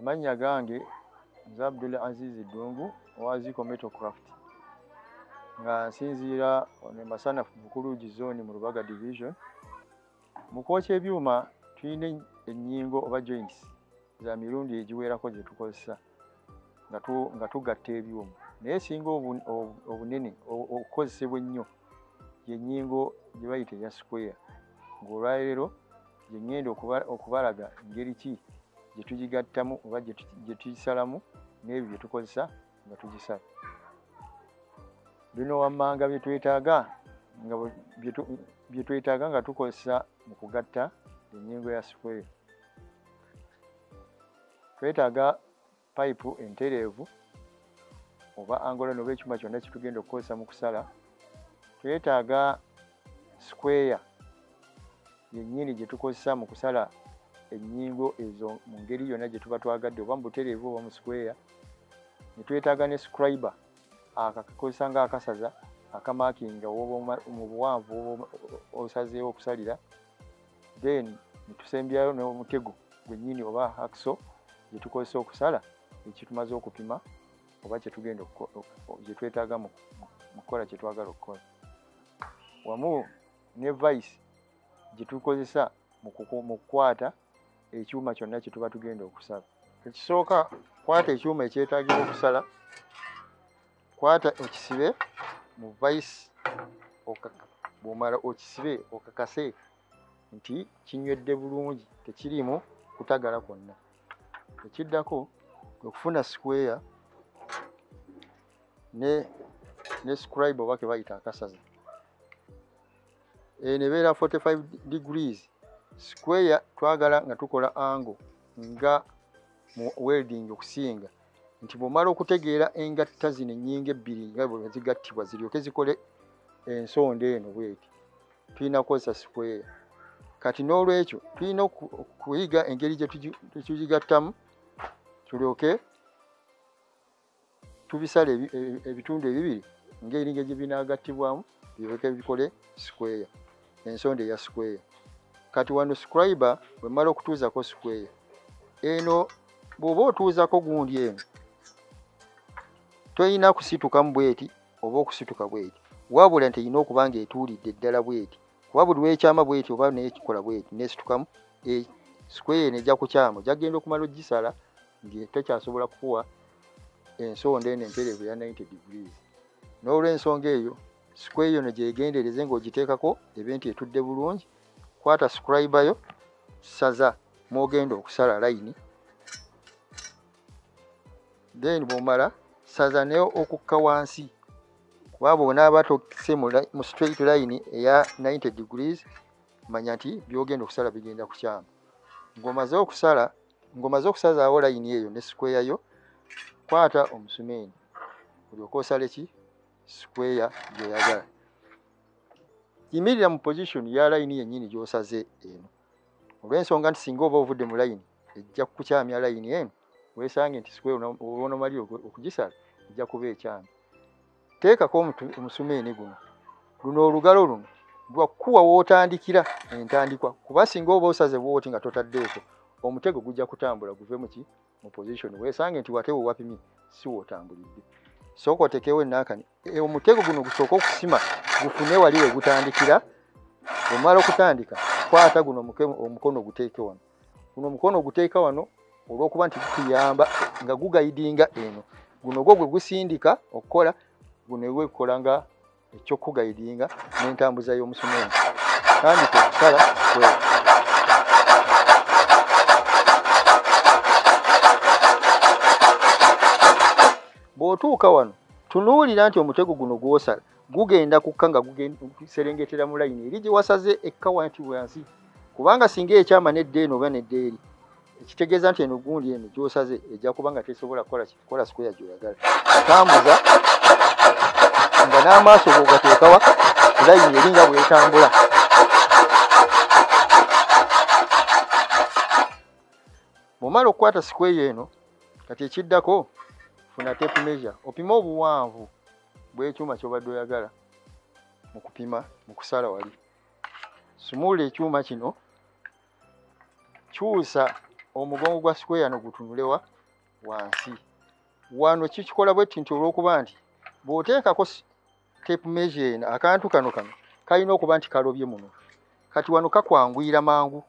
amannya gange nze abdul aziz ddungu owa ziko metocraft nga nsinziira ono emasanafu mukulugi zoni mu lubaga division mu kwokya ebyuma tulina ennyingo oba joints za mirundi egiwerako zetukozesa nga tugatta ebyuma naye esinga obunene okukozesebwa ennyo yenyingo gye bayita eya square ng'olwaleero gye ŋŋenda okubalaga ngeri ki gye tugigattamu oba gye tugisalamu n'ebyo bye tukozesa nga tugisala bino wammanga bye twetaaga nga bye twetaaga nga tukozesa mu kugatta enyingo ya square twetaaga payipu entereevu oba angola noba ekyuma kyonna kitugenda okukozesa mu kusala twetaaga sikweya yennyini gye tukozesa mu kusala ennyingo ezo mu ngeri yonna gye tuba twagadde oba mu butereevu oba mu sikweya ne twetaaga ne scribe akakozesa nga akasaza akamakinga mu buwanvu osazeewo okusalira then netusembyayo n'omutego gwennyini oba hakso gyetukozesa okusala ekitumaze okupima oba kyetugenda gyetwetaaga mu kukola kyetwagala okukola wamu ne vice gyetukozesa mu kukwata ekyuma kyonna kyetuba tugenda okusala ekisooka kwata ekyuma ekyetagibwa okusala kwata ekisibe mu vice bwomala okisibe okakase nti kinywedde bulungi tekiriimu kutagala kwonna ekiddako okufuna square ne ne scribe oba kebayita akasaza eh, nebeera 45 degrees square twagala nga tukola ango nga mu welding okusinga nti bw'omala okutegeera engatta zino ennyingo ebbiri nga bwe zigattibwa ziryoke zikole ensonda eno bweti tulina kukozesa sikweya kati n'olwekyo tulina okuyiga engeri gyetugigattamu tulyoke tubisala e, e, ebitundu ebibiri ngaeringa gye binagattibwamu biryoke bikole sikweya ensonda eya square kati wano scriber wemala okutuuzako square eno bw'oba otuuzako gundi eno toyina kusitukamu bweti oba okusituka bweti wabula nti eyina okuba nga etuulidde ddala bweti kuba buli lwekyama bweti oba nekikola bweti nesitukamu e, square eno ejja kukyama jagenda okumala ogisala ngetekyasobola kukuwa ensonda eno emperevu ya 90 degrees n'olwensonga eyo sikweyo no gyegendereze ng'ogiteekako ebe nti etudde bulungi kwata scribe yo saza mwogenda okusala layini then bwomala saza naye okukka wansi kuba bwonaaba tokise mu straight line eya 90 degrees manya nti byogenda okusala bigenda kukyama ngomaze okusala ngomaze okusazaawo layini eyo ne sikweyayo kwata omusumeeni olyoka osale ki square gyoyagala yimirira mu position ya layini yennyini gyosaze eno olw'ensonga nti singa oba ovudde mu layini ejja kukukyamya layini eno wesange nti square onomalire okugisala ejja kuba ekyamya teekako omusumeeni guno luno olugalo luno lwakuwa wotandikira entandikwa kuba singa oba osaze bwoti nga totaddeeko omutego gujja kutambula guve muki mu position weesange nti wate we wapimye si wootambulidde sooka otekewo enaakani e, omutego guno gusooka okusima gufune wali we gutandikira omala okutandika kwata guno omukono oguteeke wano guno omukono oguteeka wano olw'okuba nti gutuyamba nga gugayidinga eno guno gwo gwe gusindika okukola guno ewekukola nga ekyokugayidinga n'entambuza y'omusumenti kandi kwekusala kwe bw'otuuka wano tunuulira nti omutego guno gw'osala gugenda kukka nga guserengetera mu layini eri gye wasaze ekka wanti wansi kubanga singa ekyama nedda eno oba nedda eri ekitegeeza nti eno gundi eno gyosaze ejja kuba nga tesobola kukola sikuya gyoyagala atambuza nga n'amaaso gogateekawa layini eringa bwetambula bwomala okukwata sikweyo eno kati ekiddako funa tape measure opime obuwanvu bw'ekyuma kyobadde oyagala mu kupima mu kusala wali sumuula ekyuma kino kyusa omugongo gwa sikweya no gutunulewa wansi wano kikikola bwetti nti olwokuba nti bwoteekako tape measure eno akantu kano kano kalina okuba nti kalobye muno kati wano kakwanguyira mangu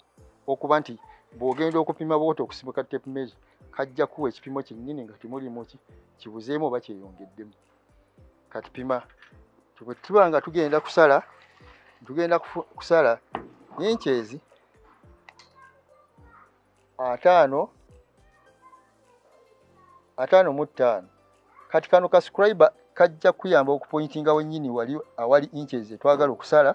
okuba nti bwogenda okupima bwoti okusibuka tape measure kajja kuwa ekipimo kyennyini nga temulimu ki kibuzeemu oba kyeyongeddemu kati pima tuba nga tugenda kusala tugenda kusala inchezi ataano ataano mu ttaano kati kano ka scribe kajja kuyamba okupointinga wenyini wali awali inchezi twagala okusala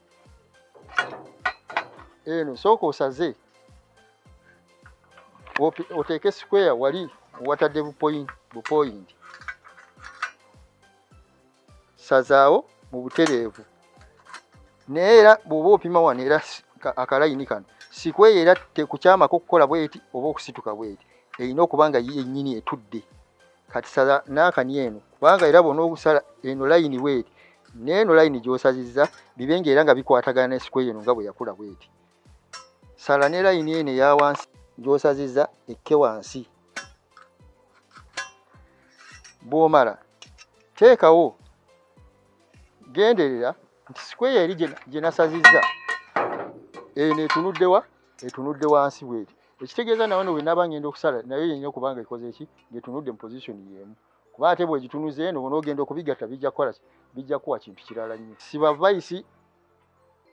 eno sooka osaze oteeke square wali watadde bupoyinti sazaawo mu butereevu naye era bw'oba opima wano era akalayini kano sikweyo era tekukyamako okukola bweti oba okusituka bweti erina okuba nga yennyini etudde kati saza nakani eno kubanga era bona okusala eno layini bweti neeno layini gyosazizza bibe nga era nga bikwatagana ne sikwe eno nga bwe yakula bweti sala ne layini eno eya wansi gyosazizza ekke wansi bwomala teekawo genderera nti sikweya eri gye nasazizza eno etunuddewa etunudde wansi bweti ekitegeeza nawe no bwenaba ngenda okusala nayo yenina okubanga ekoze eki ngetunudde mu position yemu kuba ate bwegitunuza eno bona ogenda okubigatta bijja kukola bijja kuwa kintu kirala nnyo sibavaisi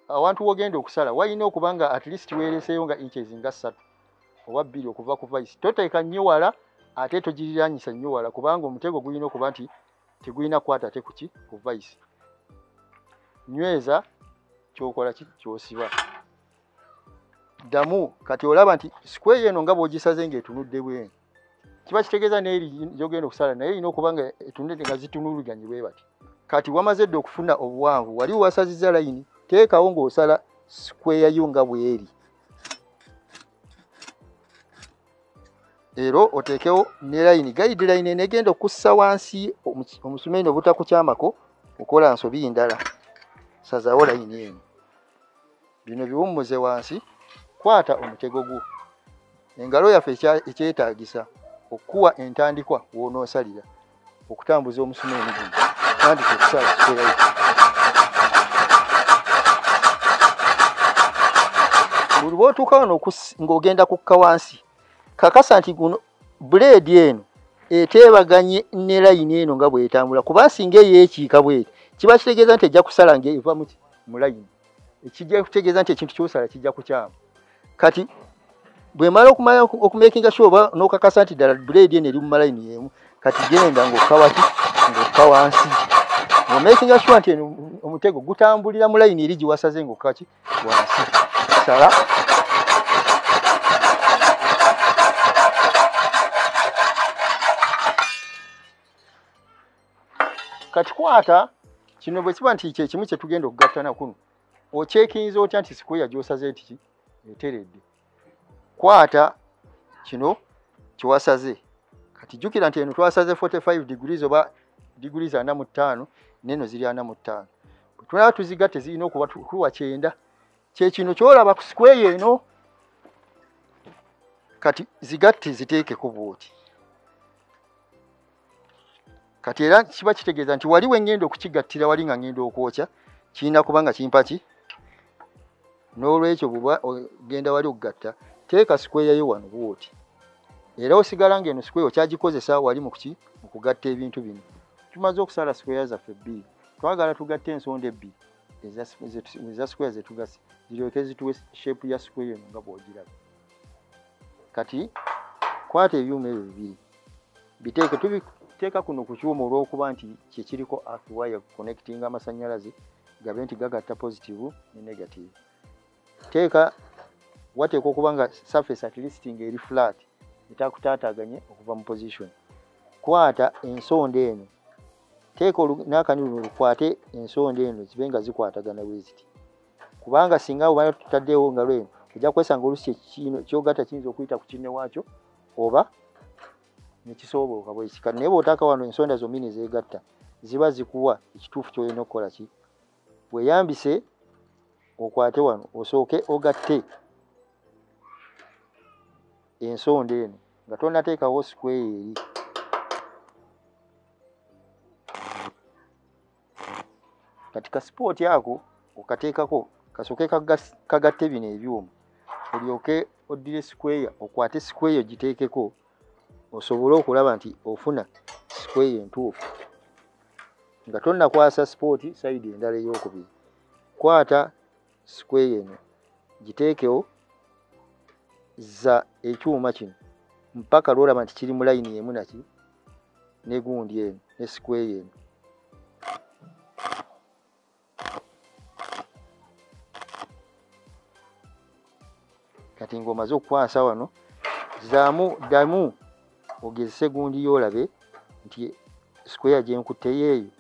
awantu wogenda okusala walina okuba nga at least weereseeyo nga inches nga ssatu oba bbiri okuva ku vaisi toteeka nnyo wala ate togiriranyisa nnyo wala kubanga omutego gulina okuba nti tegulina kukwata ate kuki ku vaisi nyweza kyokola ki kyosiba ddamu kati olaba nti sikweyo eno nga bwogisaze nga etunudde bwenu kiba kitegeeza naye yogenda okusala naye erina okuba nga etunudde nga zitunuluganye bwe bati kati wamaze dde okufuna obuwanvu wali wasaziza layini teekawo ng'osala sikweya yo nga bweri ero oteekewo ne layini gayidi layini enegenda okussa wansi omusumeeni obutakukyamako okola nsobi ndala sazawo layini eno bino biwummuze wansi kwata omutego gwo engalo yaffe ekyetaagisa okukuwa entandikwa wonoosalira okutambuza omusuma emigumu tandika okusala kikolayo buli bwotuuka wano ng'ogenda kukka wansi kakasa nti guno buleedi eno eteebaganye ne layini eno nga bwetambula kuba singa eyeekiika bweti kiba kitegeeza nti ejja kusala ngaeva mu layini ekijja kutegeeza nti ekintu kyosala kijja kukyamu kati bwemala okumala okumakinga sure oba nokakasa nti ddala buledi eno eri mu malayini yemu kati genda ngaokawaki ngaoka wansi omakinga sure nti omutego gutambulira mu layini eri gyewasaze ngaokaki wansi sala kati kwata kino bwe kiba nti kyekimu kye tugenda okugattana kuno okyekinyiza otya nti sikuya gyosaze ntiki eteredde kwata kino kyewasaze kati jjukira nti eno twasaze 45 degrees oba degrees ana mu ttaano neno ziri ana mu ttaano bwetulaba tuziga tezirina okuba tuwa kyenda kyekino kyolaba ku sikweyo eno kati zigatte ziteekeko bwoti kati era kiba kitegeeza nti wali wengenda okukigattira wali nga ngenda okwokya kirina kubanga kimpaki n'olwekyo buba ogenda wali okugatta teeka sikweyayo wano bwoti era osigala nga eno sikweya okyagikozesa wali mukuki mukugatta ebintu bino tumaze okusala sikweya zaffe ebbiri twagala tugatta ensonda ebbiri eza sikweya zetugasi ziryoke zituwe shepu ya sikweya eno nga bwogiraba kati kwata ebyuma ebyo bibiri biteeke tubiteeka kuno ku kyuma olw'okuba nti kyekiriko earth wire connectinga amasannyalaze gabe nti gagatta positive ne negative teeka wateekwa okuba nga surface at least nga eri flat etakutaataganye okuva mu position kwata ensonda eno teeka n'akanyululu lukwate ensonda eno zibe nga zikwatagana weziti kubanga singa obana tutaddeewo nga lweno ojja kwesanga olusi ekino kyogata kiyinza okuyita ku kinne waakyo oba nekisoobooka bwekika naye bwotaaka wano ensonda zombi nezeegatta ziba zikuwa ekituufu kyolina okukola ki weyambise okwate wano osooke ogatte ensonda eno nga tonateekawo sikweyo eri kati ka sipooti ako okateekako kasooke kagatte bino ebyuma olyoke oddire sikweya okwate sikweya ogiteekeko osobole okulaba nti ofuna sikweya entuufu nga tonnakwasa sipooti sayidi endala ey'okubiri kwata sikweya eno giteekewo za ekyuma kino mpaka lwolaba nti kiri mu layini emu naki ne gundi eno ne sikweya eno kati ng'omaze okukwasa wano zaamu ddamu ogezese gundi yoolabe nti sikweya gyenkutteyo eyo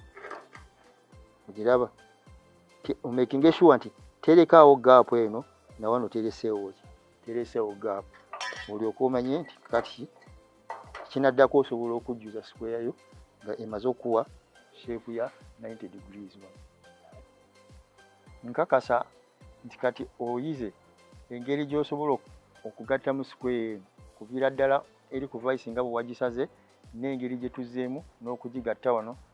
ogiraba omakinga eshuwa nti terekaawo gaapu eno nawano tereseewo ki tereseewo gaapu olyoka omanye nti kati kinaddako osobola okujjuza sikweyayo nga emaze okuwa sheepu ya 90 degrees wano nkakasa nti kati oyize engeri gy'osobola okugatta mu sikweya eno kuviira ddala eri ku vice nga bwe wagisaze n'engeri gye tuzzeemu n'okugigatta wano